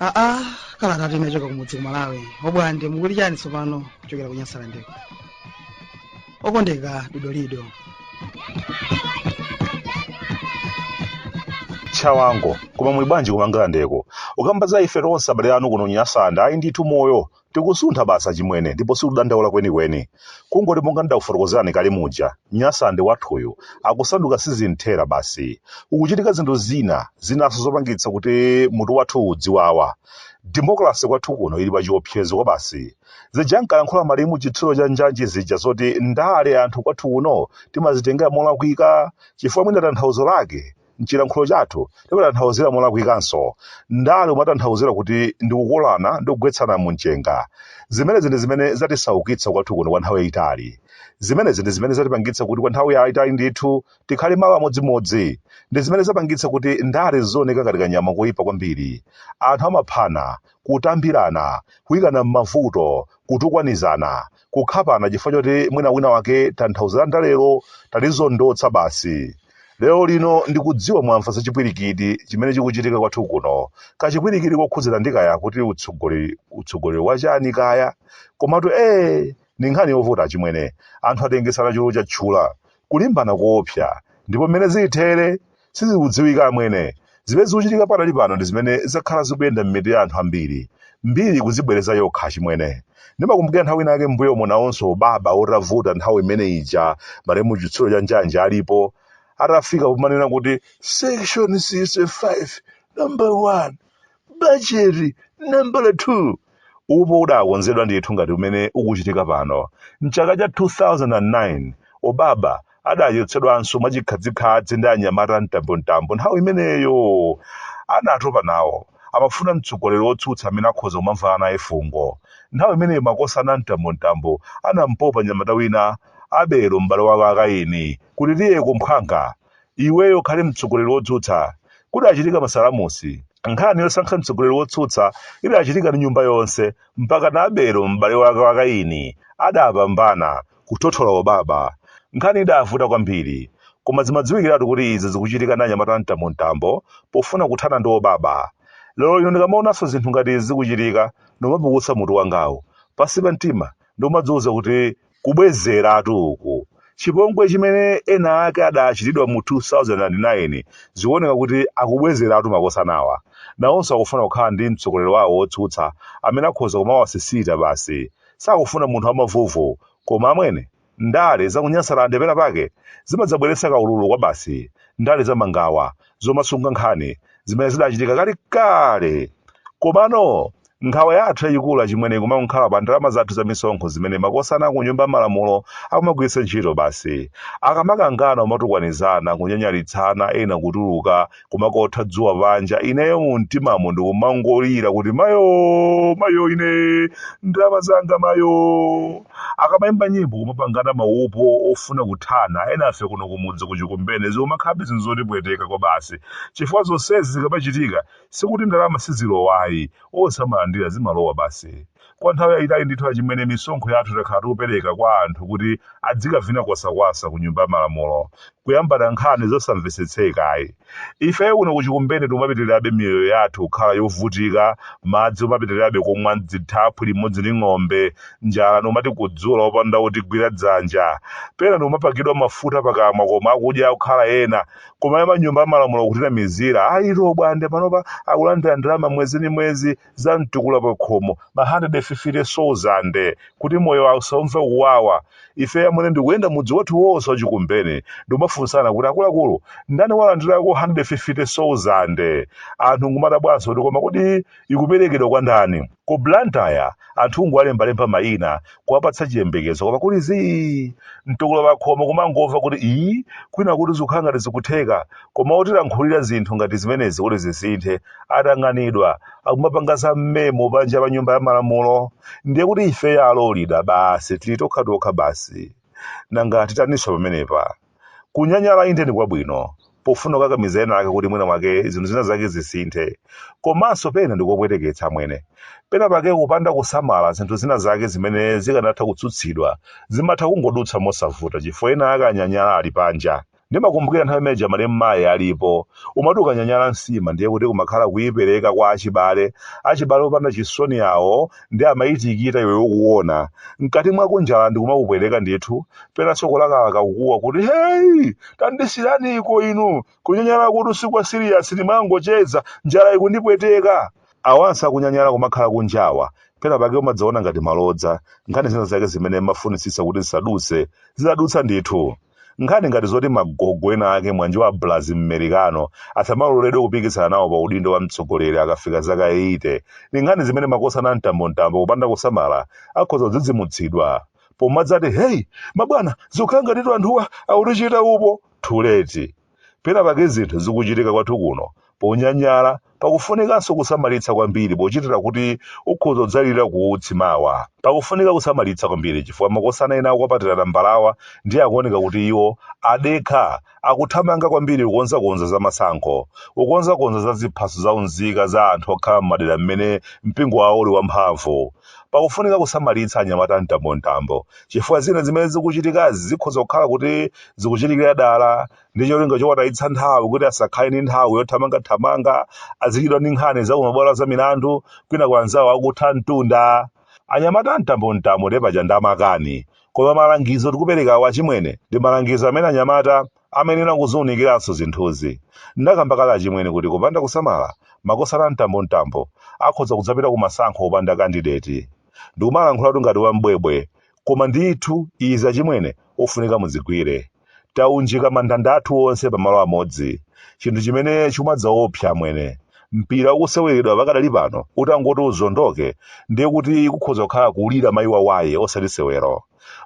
aa kalatatu yachoka kumudzi ku malawi Obwande mukuti chani tsopano kuchokera ku nyasalandeko okondeka dodolido tchawango koma muli bwanji ku Mangalandeko ukamba za ife tonse abale anu kuno Nyasande ayi ndithu moyo tikusuntha basi achimwene ndipo sikudandaula kwenikweni kungoti monga ndidakufotokozerani kale muja nyasande wathuyu akusanduka sizinthera basi ukuchitika zinthu zina zinanso zopangitsa kuti mutu wathu udziwawa demokalase kwathu kuno ili pa chiopsezo kwa basi Zija ankalankhula malemu Chitsulo cha njanji zija zoti ndale anthu kwathu kuno timazitengera molakwika chifukwa mwina tanthauzo lake m'chilankhulo chathu timatanthauzira molakwikanso. Ndale umatanthauzira kuti ndi kukolana ndi kugwetsana mumchenga. Zimenezi ndi zimene zatisaukitsa kwathu kuno kwa nthawi yaitali. Zimenezi ndi zimene zatipangitsa kuti kwa nthawi yaitali ndithu tikhale malo amodzimodzi. Ndi zimene zapangitsa kuti ndale zizioneka ngati kanyama koipa kwambiri. Anthu amaphana, kutambirana, kuikana m'mavuto, kutukwanizana, kukhapana chifukwa choti mwina wina wake tanthauzo la ndalero talizondotsa basi. Lero lino ndikudziwa mwamva za chipwirikiti chimene chikuchitika kwathu kuno. Kachipwirikiti kokhudzana ndi kaya kuti utsogoleri utsogoleri wa chani kaya. Komatu ee ndi nkhani yovuta achimwene. Anthu atengesana chulu chatchula. Kulimbana koopsa. Ndipo mmene zilithere Sizikudziwika amwene. Zimene zikuchitika pakadali pano ndi zimene zakhala zikuyenda m'mitu ya anthu ambiri. Mbiri ikuzibwereza yokha achimwene. Ndimakumbukira nthawi ina yake m'mbuyomo nawonso obaba atavuta nthawi imene ija malemu Chitsulo cha Njanji alipo, atafika pomanena kuti section 65 number 1 bajeti nambala 2 upo udakonzedwa ndithu ngati umene ukuchitika pano mchaka cha 2009 obaba adachotsedwanso mwachikhadzikhadzi ndi anyamata a mtambontambo nthawi imeneyo anatopa nawo amafuna mtsogoleri wotsutsa amene akhoza kumamvana naye fungo nthawi imeneyo makosana a mtambontambo anampopa mnyamata wina abelo m'bale wake wa Kaini kuti tiye kumphwanga iweyo ukhale mtsogoleri wotsutsa. Kudachitika masalamusi, nkhani yosankha mtsogoleri wotsutsa idachitika ndi nyumba yonse mpakana Abelo, m'bale wake wa Kaini, adapambana kuthothola obaba. Nkhani idavuta kwambiri. Koma zimadziwikiratu kuti izi zikuchitika ndi anyamata a mtambontambo pofuna kuthana ndi obaba. Lero lino ndikamaonanso zinthu ngati izi zikuchitika, ndimapukusa mutu wangawu. Pansi pa mtima ndikumadziuza kuti Kubwezeratu uku! Chipongwe chimene ena ake adachitidwa mu 2009 zikuoneka kuti akubwezeratu makosanawa. Nawonso akufuna kukhala ndi mtsogoleri wawo wotsutsa amene akhoza kumawasisita basi. Sakufuna munthu wamavuvu. Koma amwene, ndale za ku Nyasalande penapake zimadzabweretsa kaululu kwabasi. Ndale za mangawa. zomasunga nkhani zimene zidachitika kalekale komano nkhawa yathu yayikulu achimwene ikumakhala pa ndalama zathu za misonkho zimene makosana ku nyumba ya malamulo akumagwiritsa ntchito basi akamakangana umatukwanizana kunyanyalitsana ena kutuluka kumakotha dzuwa panja ineyo mu mtimamu ndikumangolira kuti mayo mayo ine ndalama zanga mayo Akamaimba nyimbo kumapangana maupo ofuna kuthana enafe kuno kumudzi ku Chikumbeni zikumakhalabe zinthu zotipweteka kwabasi chifukwa zonsezi zikamachitika sikuti ndalama sizilowa ayi onse amalandira zimalowa basi kwa nthawi yaitali ndithu achimwene misonkho yathu takhala tikupereka kwa anthu kuti adzikavina kwasakwasa ku nyumba ya malamulo kuyambana nkhani zosamvesetseka ayi. Ifeyo kuno ku Chikumbeni tikumapitirirabe miyoyo yathu kukhala yovutika, madzi umapitirirabe kumwa m'dzithaphwi limodzi ndi ng'ombe, njala ndikumatikudzula opanda wotigwira dzanja. Pena ndikumapakidwa mafuta pakamwa koma akudya kukhala ena. Kumayamba m'nyumba ya malamulo kutinamizira, ayi Lobwande panopa akulandira ndalama mwezi ndi mwezi. za mtukula pa khomo ma 150,000 kuti moyo wawo usaumve kuwawa ife amwene ndikuyenda mudzi wathu wonse wa Chikumbeni ndikumafunsana kuti akuluakulu ndani walandirako 150,000 anthu nkumadabwanso kuti koma kodi ikuperekedwa kwa ndani ku Blantyre anthu kungowalembalemba mayina kuwapatsa chiyembekezo koma kuli zii mtukula pakhomo kumangomva kuti ii kwina kuti zikukhala ngati zikutheka koma otilankhulira zinthu ngati zimenezi kuti zisinthe atanganidwa akumapanga za mmemo panja pa nyumba ya malamulo ndiye kuti ifeyo alolida basi tili tokhatokha basi nanga titaninso pamenepa Kunyanyala inde ndi kwabwino pofuna kukakamiza ena ake kuti mwina mwake zinthu zina zake zisinthe. Komanso pena ndi kopweteketsa amwene. Pena pake kupanda kusamala zinthu zina zake zimene zikanatha kutsutsidwa zimatha kungodutsa mosavuta chifukwa ena ake anyanyala ali panja. Ndimakumbukira nthawi imene ija malemu mayi alipo, umati ukanyanyala nsima ndiye kuti kumakhala kuipereka kwa achibale, achibale opanda chisoni awo ndiye amayitikita iwe ukuona mkati mwakomo njala ndikumakupweteka ndithu penanso kulakalaka kukuwa kuti heyi tandisiraniko inu kunyanyalakutu si kwa siriyasi ndimangocheza njala ikundipweteka awanso akunyanyala kumakhala kunjawa pena pake umadzaona ngati malodza nkhani zina zake zimene amafunitsitsa kuti zisadutse zidadutsa ndithu Nkhani ngati zoti magogo ena ake mwanji wa Blaz m'Merikano asamaloledwe kupikisana nawo pa udindo wa mtsogoleri akafika zaka 80, ndi nkhani zimene makosana a mtambomtambo kupanda kusamala akhoza kudzidzimutsidwa pomadzati, Hey, mabwana, zikhala ngatitu anthuwa akutichita upo! Too late. Pena pake zinthu zikuchitika kwathu kuno ponyanyala pakufunikanso kusamalitsa kwambiri pochitira kuti ukhoza kudzalira kuutsi mawa. Pakufunika kusamalitsa kwambiri chifukwa makosana ena akukwapatira tambalawa ndiye akuoneka kuti iwo adekha, akuthamanga kwambiri kukonzakonza za masankho, kukonzakonza za ziphaso za unzika za anthu okhala m'madera m'mene mpingo wawo uli wamphamvu, Pakufunika kusamalitsa anyamata a mtambomtambo chifukwa zina zimene zikuchitikazi zikhoza kukhala kuti zikuchitikira dala ndi cholinga chowatayitsa nthawi kuti asakhale ndi nthawi yothamangathamanga, azichedwa ndi nkhani za kumabwalo za milandu kwinaku anzawo akutha mtunda. Anyamata a mtambomtambo ndiye paja ndi amakani. Koma malangizo tikuperekawa achimwene ndi malangizo amene anyamata amayenera kuziunikiranso zinthuzi. Ndinakamba kale achimwene kuti kupanda kusamala, makosana amtambomtambo akhoza kudzapita ku masankho opanda kandideti. Ndikumalankhulatu ngati wa m'bwebwe, koma ndithu izi achimwene ofunika muzigwire. Taunjika mandanda athu onse pa malo amodzi, chinthu chimene chikumadzaopsa amwene. Mpira ukuseweredwa pakadali pano utangoti uzondoke ndiye kuti kukhoza kukhala kulira mayi wawaye osati sewero.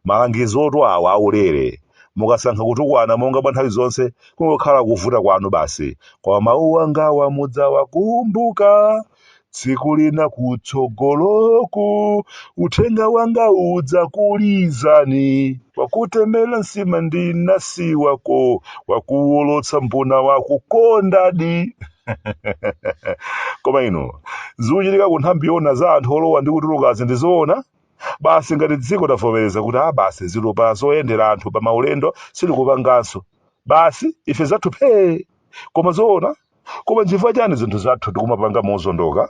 Malangizotu awa aulere. Mukasankha kutukwana monga mwa nthawi zonse kungokhala kuvuta kwanu basi. Koma mawu angawa mudzawakumbuka tsiku lina kutsogoloku. Uthenga wanga udzakulizani. Wakutemera nsima ndi nasi wako, wakuwolotsa mbuna wakukondadi. Koma inu, zikuchitika ku nthambi yoona za anthu olowa ndi kutulukazi ndi zoona? Basi ngati dziko tavomereza kuti aa basi zitupa zoyendera anthu pa maulendo sitikupanganso, basi ife zathu phee! Koma zoona? Koma nchifukwa chani zinthu zathu tikumapanga mozondoka?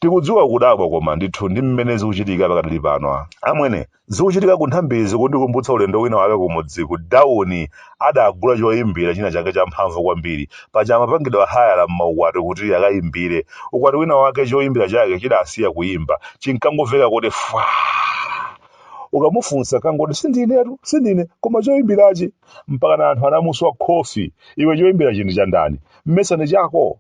Tikudziwa ukudabwa koma ndithu ndi mmene zikuchitika pakadali pano. Amwene, zikuchitika ku nthambizi kundikumbutsa ulendo wina waku kumudzi ku Dowa adagula choimbira china chake champhamvu kwambiri. Paja amapangidwa hayala m'maukwati kuti akaimbire. Ukwati wina wake choimbira chake chidasiya kuimba. Chinkangomveka kuti fwaa! Ukamufunsa ankangoti sindinetu, sindine, koma choimbirachi. Mpakana anthu anamuswa kofi. Iwe choimbirachi ndi cha ndani? Mmesa ndi chako?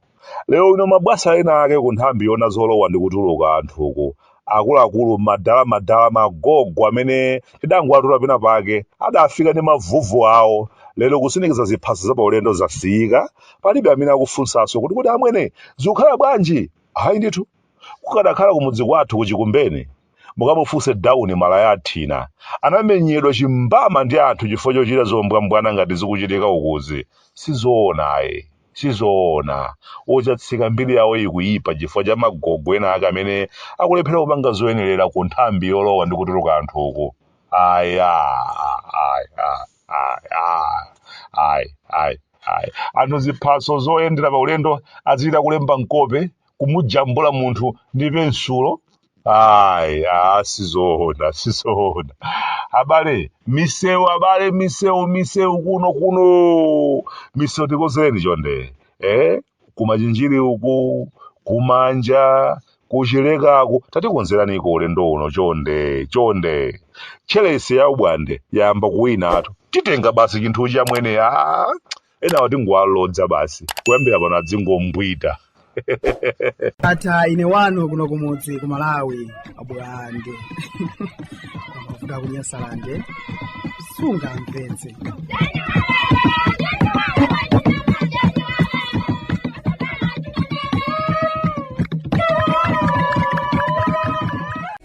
Lero wina mabwasa ena ake ku nthambi yona zolowa ndi kutuluka anthuku akuluakulu madala madala magogo amene tidangowatola pena pake adafika ndi mavuvu awo lero kusindikiza ziphaso za paulendo zasiyika palibe amene akufunsanso kuti kodi amwene zikukhala bwanji hayi ndithu kukadakhala kumudzi kwathu kuchikumbeni mukamufunse dawuni malaya athina anamenyedwa chimbama ndi anthu chifukwa chochita zombwambwana ngati zikuchitika ukuzi sizoona ayi Sizoona. Ochatsika mbiri yawo ikuyipa chifukwa cha magogo ena ake amene akulephera kupanga zoyenerera ku nthambi yolowa ndi kutuluka anthu uku. Ayi a ayi a ayi a ayi ayi ayi. Anthu ziphaso zoyendera pa ulendo azichita kulemba mkope, kumujambula munthu ndi pensulo. Ayi, ah, sizoona, sizoona. Abale, misewu abale, misewu, misewu kuno kuno. Misewu tikonzereni chonde. Eh? Kumachinjiri uku, kumanja, kuchilekako. Tatikonzeraniko ulendo uno chonde, chonde. Chelese ya ubwande yayamba kuwinatu. Titenga basi chinthu chamwene. Ah, Enawa tingowalodza basi. Kuyambira pano azingombwita. Ndatha ine wanu kuno kumudzi ku Malawi abulande amavuta kunyasalande sungampetse